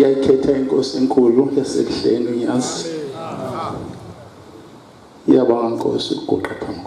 yayithetha inkosi enkulu yasebuhleni unyazi yabanga nkosi ukuguqa phambi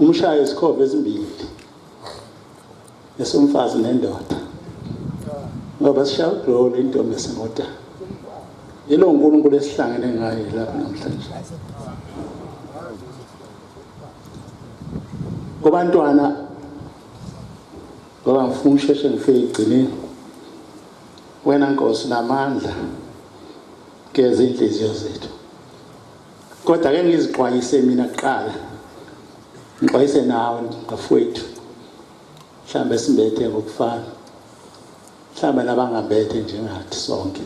Umshaye izikhova ezimbili esomfazi nendoda ngoba sishaya ugrolo intombi esingoda yilo uNkulunkulu esihlangene ngaye lapha namhlanje kubantwana ngoba ngifuna usheshe ngifike egcineni wena nkosi namandla geza inhliziyo zethu Kodwa ke ngizixwayise mina kuqala. Ngixwayise nawe bafowethu. Mhlambe simbethe ngokufana. Mhlambe nabangabethe njengathi sonke.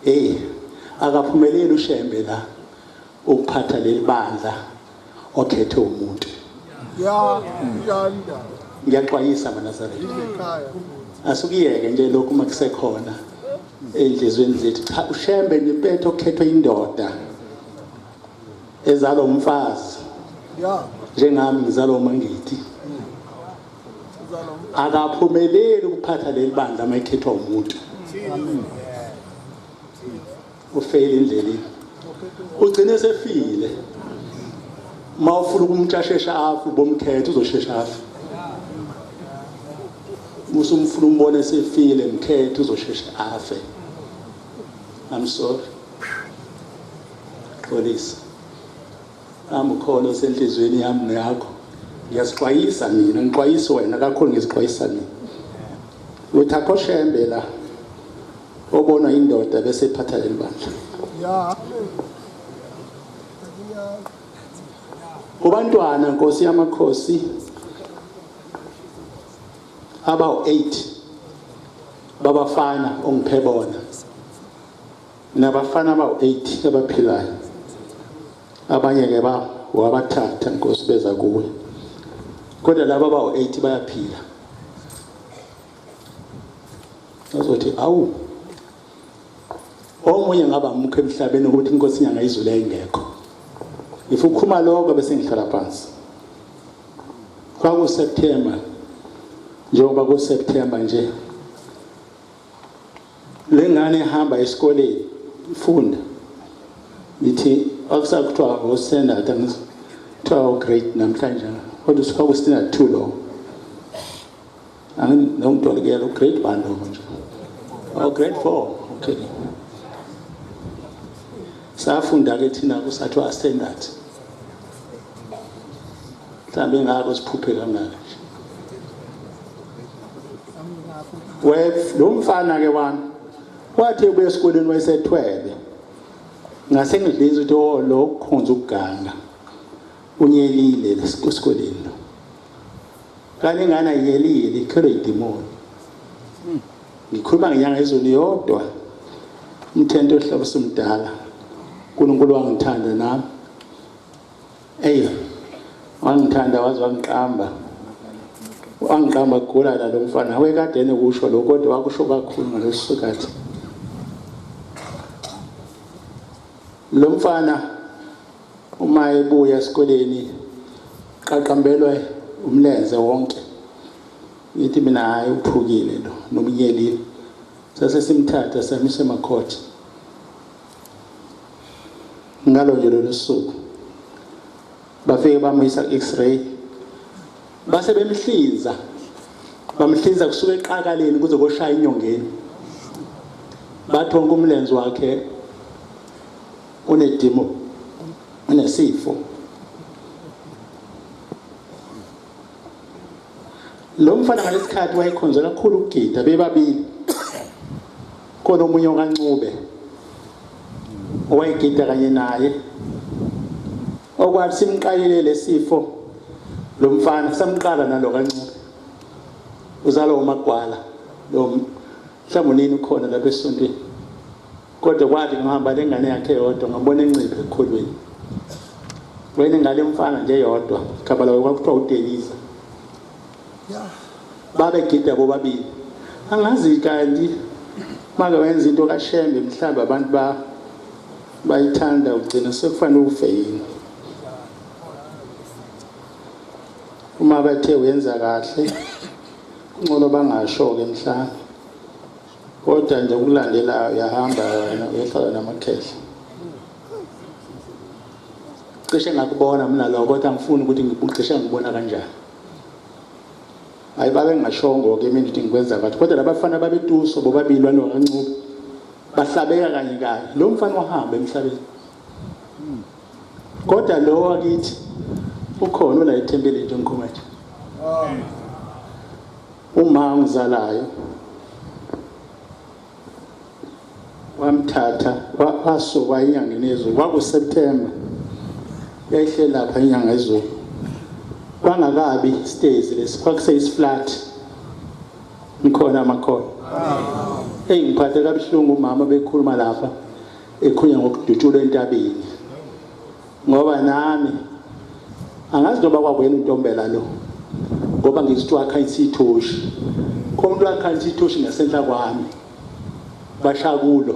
Eh akaphumeleli uShembe la ukuphatha leli bandla okhethe umuntu ya yanda ngiyaxwayisa manazaretha ikhaya asukuyeke nje lokhu uma kusekhona ey'nhliziyweni zethu cha ushembe nepetho okhethwe indoda ezalwa umfazi ya njengami ngizalwa umangithi uzalo akaphumeleli ukuphatha leli bandla uma ekhethwa umuntu ufeyile endleleni ugcine esefile uma ufuna ukumntu asheshe afe ubomkhetha uzoshesha afe musa umfuna umbone esefile mkhetha uzoshesha afe i'm sorry xolisa Nami ukhona osenhliziyweni yami neyakho ngiyazixwayisa mina ngixwayisa wena kakhulu ngizixwayisa mina ukuthi akho shembe la obonwa indoda bese iphatha leli bandla kubantwana nkosi yamakhosi abawu-8 babafana ongiphebona nabafana abawu-8 abaphilayo abanye ke ba wabathatha nkosi beza kuwe kodwa laba abawu-8 bayaphila azothi awu omunye ngaba mukho emhlabeni ukuthi inkosi inyanga izulu yayingekho if ukhuma lokho bese ngihlala phansi kwakuseptemba njengoba kuseptemba nje Le ngane ihamba esikoleni ifunda ngithi akusakuthiwa ngostandard angithiwa ograde namhlanje kodwa usuka kwistandard two lowo anginokutolikela ugrade one lowo nje ograde oh, four okay safunda-ke thina kusathiwa standard mhlawumbe ingako siphuphe kangaka lo mfana-ke wami wathi ubuya esikoleni wayesethwebe ngase ngidlisa ukuthi o lo ukhonza ukuganga unyelile esikoleni lo kanti ingane ayiyelile ikhelwe yidimoni ngikhuluma ngenyanga ezulu yodwa umthento ohlaba usumdala unkulunkulu wangithanda nami Eyi wangithanda waze wangiqamba wangiqamba kugula la lo mfana wekade enokusho lokho kodwa wakusho kakhulu ngaleso sikhathi lo mfana uma ebuya esikoleni qaqambelwe umlenze wonke ngithi mina hayi uphukile lo nomnyelile sase simthatha samisa emakhothi ngalo nje lolu suku bafike bamuyisa ku-x-ray base bemhlinza bamhlinza kusuka eqakaleni kuze koshaya inyongeni bathi wonke umlenze wakhe unedimo unesifo lo mfana ngalesikhathi wayekhonzela kakhulu ukugida bebabili khona omunye okancube owayegida kanye naye okwathi simqalile lesifo lo mfana samqala nalo kancube uzalo umagwala lo mhlawumbe nini ukhona lapha esontweni Kodwa kwathi ngihamba le ngane yakhe yodwa ngabona enciphe ekukholweni. Wena ingane mfana nje yodwa khabala kwakuthiwa uDelisa. Babegida bobabili. Angazi kanti make wenza into kaShembe mhlawumbe abantu ba bayithanda ugcina sekufanele ufe yini. Uma bethe uyenza kahle kuncono bangasho-ke mhlawumbe. Kodwa nje okulandelayo uyahamba wena uyohlala namakhehla. Cishe ngakubona mina lokho kodwa angifuni ukuthi ngibucishe ngibona kanjani. Hayi babe ngashongo ke mina ukuthi ngikwenza kathi kodwa labafana babetuso bobabili balo kancube bahlabeka kanye kanye lo mfana wahamba emhlabeni. Kodwa lo wakithi ukhona la ethempelini nje ngikhuluma nje. Uma ongizalayo wamthatha wasuka enyangeni yezulu kwakuSeptember yayihle lapha inyanga yezulu kwangakabi stairs lesi kwakuseyisiflat ngikhona amakhona eyi ngiphathe kabuhlungu umama bekhuluma lapha ekhunya ngokudutshula entabeni ngoba nami angazi noba kwakwena untombela lo ngoba ngizithiwa akhanyisa ithoshi komuntu akhanyisa ithoshi ngasenhla kwami bashakulo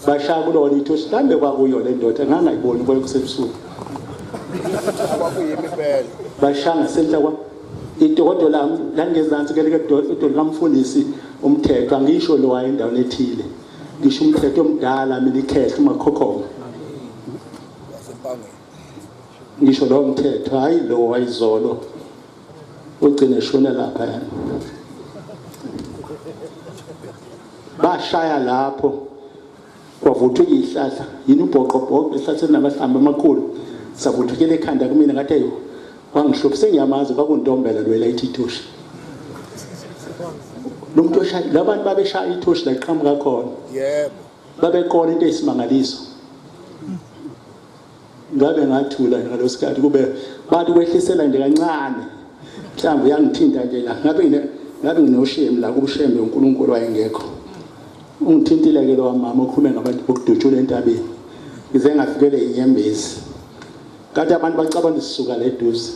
bashakulo wona ithoshi kambe kwakuyo le ndoda ngangayiboni kwayo kusebusuku bashanga senhla kwami idokodo lami langezansi keleke idolo likamfundisi umthetho angisho lowayo endaweni ethile ngisho umthetho omdala mina ikhehla umakhokhoma ngisho lowo mthetho hhayi lowo wayizolo ugcine eshone lapha yena bashaya lapho kwavuthwa iyihlahla yini ubhoqobhoqo ehlatheni namahlamba amakhulu savuthukela ekhanda kumina ngathi ayo wangihlupha sengiyamazi kwakuntombela lwela ithi ithoshi lo muntu oshaya labantu babeshaya ithoshi la qhamuka khona yebo babekona into eyisimangaliso ngabe ngathula ngalosikhathi kube bathi kwehlisela nje kancane mhlawumbe uyangithinta nje la ngabe ngine ngabe nginoshemi la kubushembe uNkulunkulu wayengekho ungithintile ke lo mama okhulume ngabantu bokudutshula entabeni ngize ngafikele inyembezi Kade abantu bacabanga sisuka la eduze.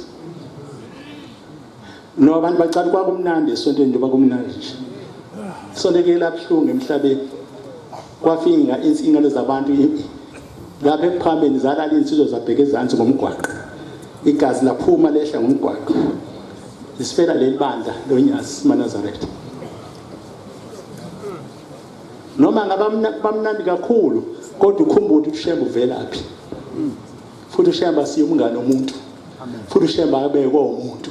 No abantu bacabanga kwakumnandi esontweni njengoba kumnandi nje. Isonto ke labuhlungu emhlabeni. Kwafinga insingalo zabantu lapha ekuphambeni zalala insizwa zabheke ezansi ngomgwaqo. Igazi laphuma lehla ngomgwaqo. Isifela lelibandla loNyazi Manazaretha. noma ngabamnandi kakhulu kodwa ukhumbule ukuthi ushembe uvelaphi futhi ushembe asiye umngane omuntu futhi ushembe abekwa umuntu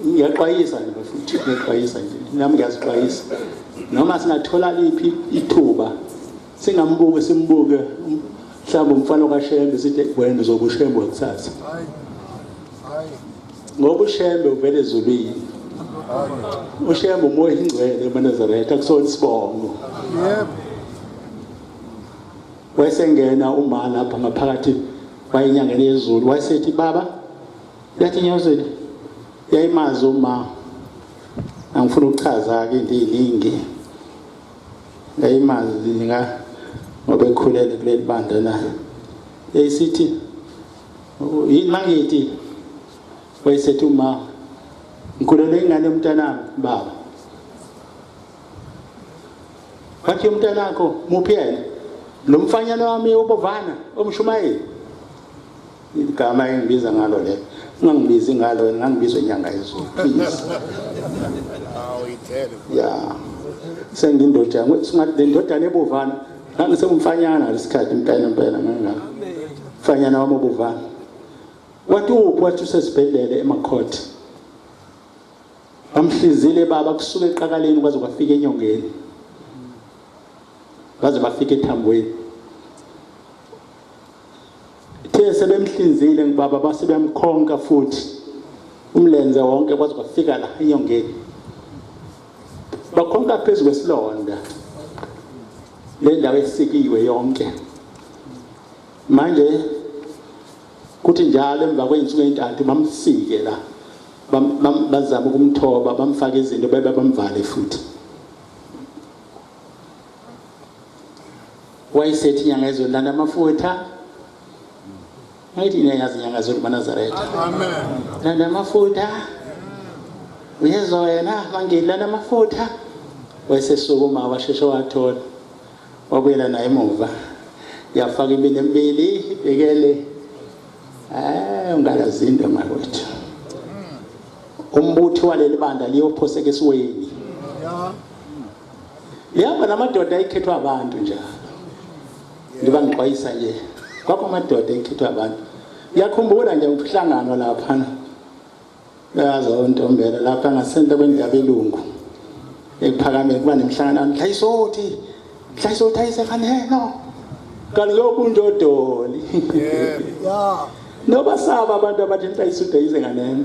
ngiyaxwayisa nje bafuthi ngiyaxwayisa nje nami ngiyazixwayisa noma singathola liphi ithuba singambuke simbuke mhlawumbe umfana kaShembe sithi wena uzobe uShembe wakusasa ngoba uShembe uvele ezulwini uShembe umoya ingcwele emaNazaretha kusona isibongo yebo wayesengena uma lapha ngaphakathi wayenyangeni yezulu wayesethi baba yathi nyazweni yayimazi uma angifuna ukuchaza-ke into ey'ningi ngayimazwi nika ngoba ekhulele kuleli bandla na eyisithi yini mangithi wayesethi uma ngikhulele ingane yomntanami baba wathi umntanakho muphi yena lo mfanyana wami ubovana omshumayeli igama engibiza ngalo le ungangibizi ngalo wena ngangibizwa inyanga yezulu please ya sengindoda singathi le ndodana ebovana ngangisewumfanyana lesikhathi impela impela ngangaka mfanyana wami obovana wathi uphi wathi usesibhedlele emakhothe bamhlizile baba kusuka eqakaleni kwaze kwafika enyongeni baze bafika ethambweni Ithe sebemhlinzile ngibaba base beyamkhonka futhi umlenze wonke kwaze kwafika la enyongeni. Bakhonka phezu kwesilonda. Le ndawo esikiwe yonke. Manje kuthi njalo emva kwey'nsuku ey'ntathu bamsike la bazama ukumthoba bamfake izinto bebe bamvale futhi wayesethi inyanga yezulu landa amafutha ngayithi niyayazi inyanga yezulu manazaretha landa amafutha uyezwa wena mangili landa amafutha wayesesukuma washeshe wathola wabuyela naye emuva yafaka imini emibili ibhekele um ungalazinto makwethu umbuthi waleli banda liyophoseka esiweni ihamba namadoda ayikhethwa abantu njalo ndiba ngixwayisa nje kwakho amadoda ekhethwa abantu ngiyakhumbula nje umhlangano laphana yazi ontombela lapha ngasenta kwendabelungu ekuphakameni kuba nemhlangano mhlayisothi mhlayisothi ayisefaneno kaloku unjodoli nobasaba abantu abathi mhlayisothi ayize nganeno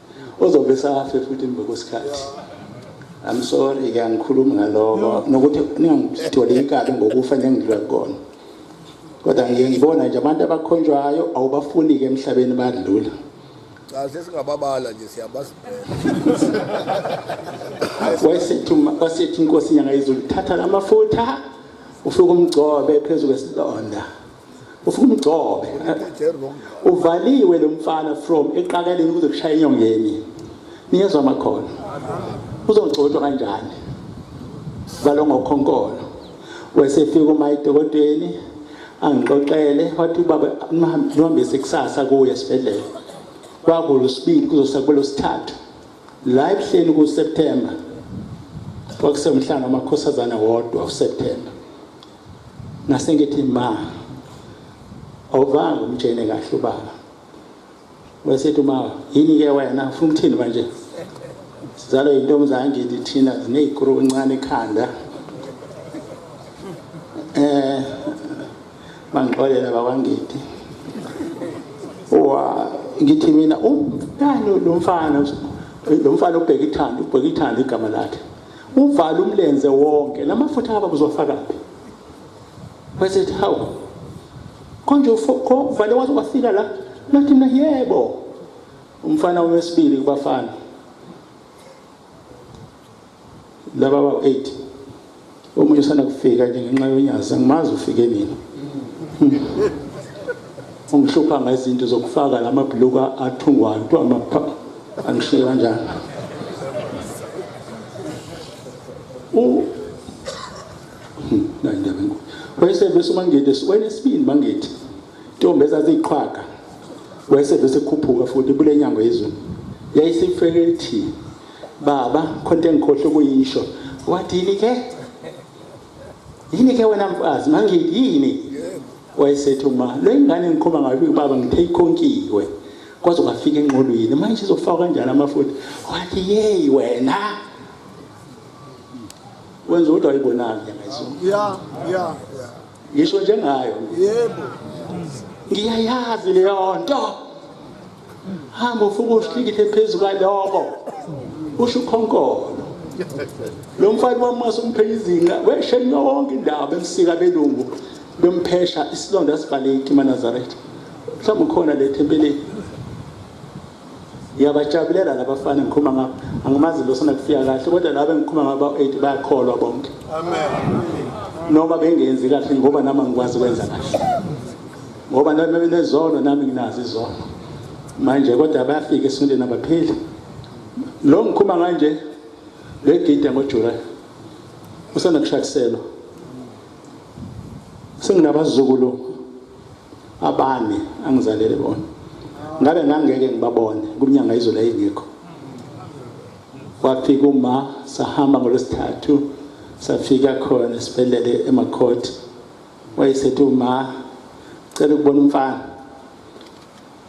ozobe safe futhi emva kwesikhathi I'm sorry ke angikhulumi ngaloko nokuthi ningangitholi inkabi ngokufa nengidlula kona kodwa ngiye ngibona nje abantu abakhonjwayo awubafuni ke emhlabeni badlula cha sesingababala nje siyabazi wayesethi wasethi inkosi nyanga izulu thatha lamafutha ufike umgcobe phezulu kwesilonda ufuna umgcobe uvaliwe lo mfana from eqakaleni kuze kushaya enyongeni niyezwa amakhono uzogcotshwa kanjani valwa ngokhonkolo wesefika uma edokodweni angixoxele wathi ubaba ngihambise kusasa kuye esibhedlela kwakulu sibili kuzosakulo sithathu la ebuhleni kuSeptember kwakusemhlanga amakhosazana wodwa uSeptember Nasengithi ma awuvanga umtshene kahle ubaba. Wesethi uma yini ke wena ufuna ukuthini manje? Sizalo yintombazane ngithi thina zinezikhulu encane ekhanda. Eh bangixolela bakwangithi. Wa ngithi mina umntana lomfana lomfana ubheka ithanda ubheka ithanda igama lakhe. Uvala umlenze wonke. Lamafutha ngaba kuzofakaphi? Bese ethi hawu. Konje uvale waze wafika la. Nathi na yebo. Umfana wesibili kubafana. Laba ba 8. Omunye usana kufika nje ngenxa yonyazi angimazi ufike nini. ungihlupha ngezinto zokufaka lamabhuluka athungwayo kuthiwa angishiye kanjani u nandaba enkulu wayesevese umangede wayenesibindi mangede intombi ezaziyiqhwaga wayesevese ekhuphuka futhi kule nyango yezulu yayisifeke ithi baba khona into engikhohle ukuyisho wathi yini ke yini ke wena mfazi mangidi yini wayesethi uma le ngane ngikhomba ngayo ubaba ngithe ikhonkiwe kwaze kwafika enqolweni manje izofaka kanjani amafutha wathi yeyi wena wenza ukuthi ayibonanga ngezulu ya ya ngisho njengayo yebo ngiyayazi leyo nto hamba ufuka usikikithe phezu kwaloko usho ukhonkolo lo mfana wamasa umphenya izinqa wesheni yonke indaba emsika belungu bemphesha isilonda sivaleki manazaretha mhlawumbe ukhona le thempeleni ngiyabajabulela labafana ngikhuluma ngabo angimazi lo sona kufika kahle kodwa laba engikhuluma ngabo ba-eight bayakholwa bonke noma bengenzi kahle ngoba nami angikwazi ukwenza kahle ngoba nami benezono nami nginazo izono manje kodwa bayafika esintwini abaphili lo ngikhuma kanje legida ngoJuly usanda kushakiselwa senginabazukulu abane angizalele bona ngabe ngangeke ngibabone kumnyanga izolo ayingekho wafika uma sahamba ngolwesithathu safika khona esibhedlele emakhoti wayesethi uma cela ukubona umfana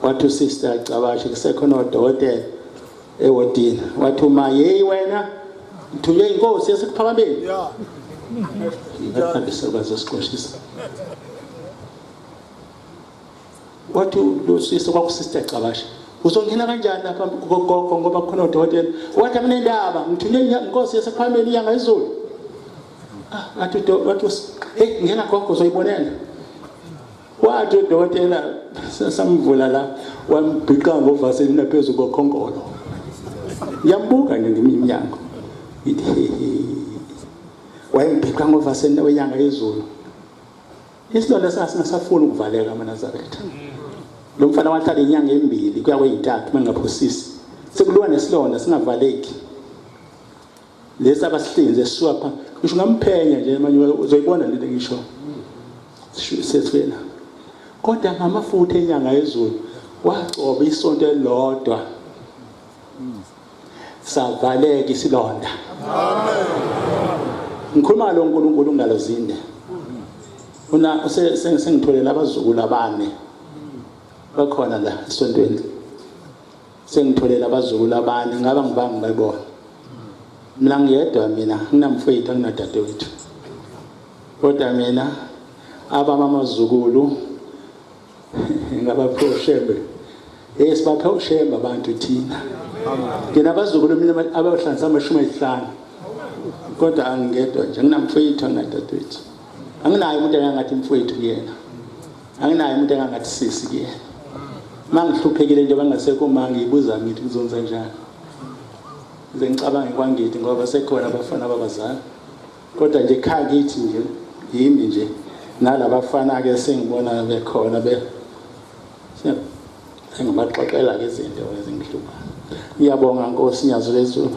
wathi usister agcabashe kusekhona odokotela ewodini wathi uma yeyi wena ngithunywe inkosi yasekuphakameni bazosigqoshisa wathi lo sister kwakusister agcabashe uzongena kanjani lapha kugogo ngoba khona odokotela wathi akunendaba ngithunywe inkosi yasekuphakameni iyanga izulu athi udokotela hey ngena gogo uzoyibonela wathi udokotela samvula la wambhiqa ngovaseli naphezulu kokhonkolo ngiyambuka nje ngimi imnyango ngithi hehe wayembhiqa ngovaseli wenyanga yezulu isilonda sasingasafuni ukuvaleka amanazaretha lo mfana wahlala inyanga embili kuya kweyintathu uma ngingaphosisi sekuliwa nesilonda singavaleki lesi abasihlinze siswapha ngisho ngamphenya nje manje uzoyibona lento ngisho sesifela kodwa ngamafutha enyanga yezulu wagcoba isonto elilodwa savaleka isilonda ngikhuluma lo nkulunkulu ngalo zinde una sengitholela abazukulu abane bakhona la esontweni sengitholele abazukulu abane ngaba ngibanga ngibebona mina ngiyedwa mina nginamfowethu anginadadewethu kodwa mina abami amazukulu ngabaphe ushembe hey sibaphe ushembe abantu thina ngina abazukulu mina abahlanganisa amashumi ayisihlanu kodwa angingedwa nje nginamfowethu anginadadewethu anginayo umuntu ayangathi mfowethu kuyena anginayo umuntu engangathi sisi kuyena uma ngihluphekile njengoba ngasekho uma ngiyibuza ngithi ngizonza njani ngize ngicabange kwangithi ngoba sekhona abafana babazali kodwa nje kha kithi nje yimi nje nalabafana-ke sengibona bekhona be sengibaxoxela-ke izinto ezingihluphayo ngiyabonga nkosi nyazo lezulu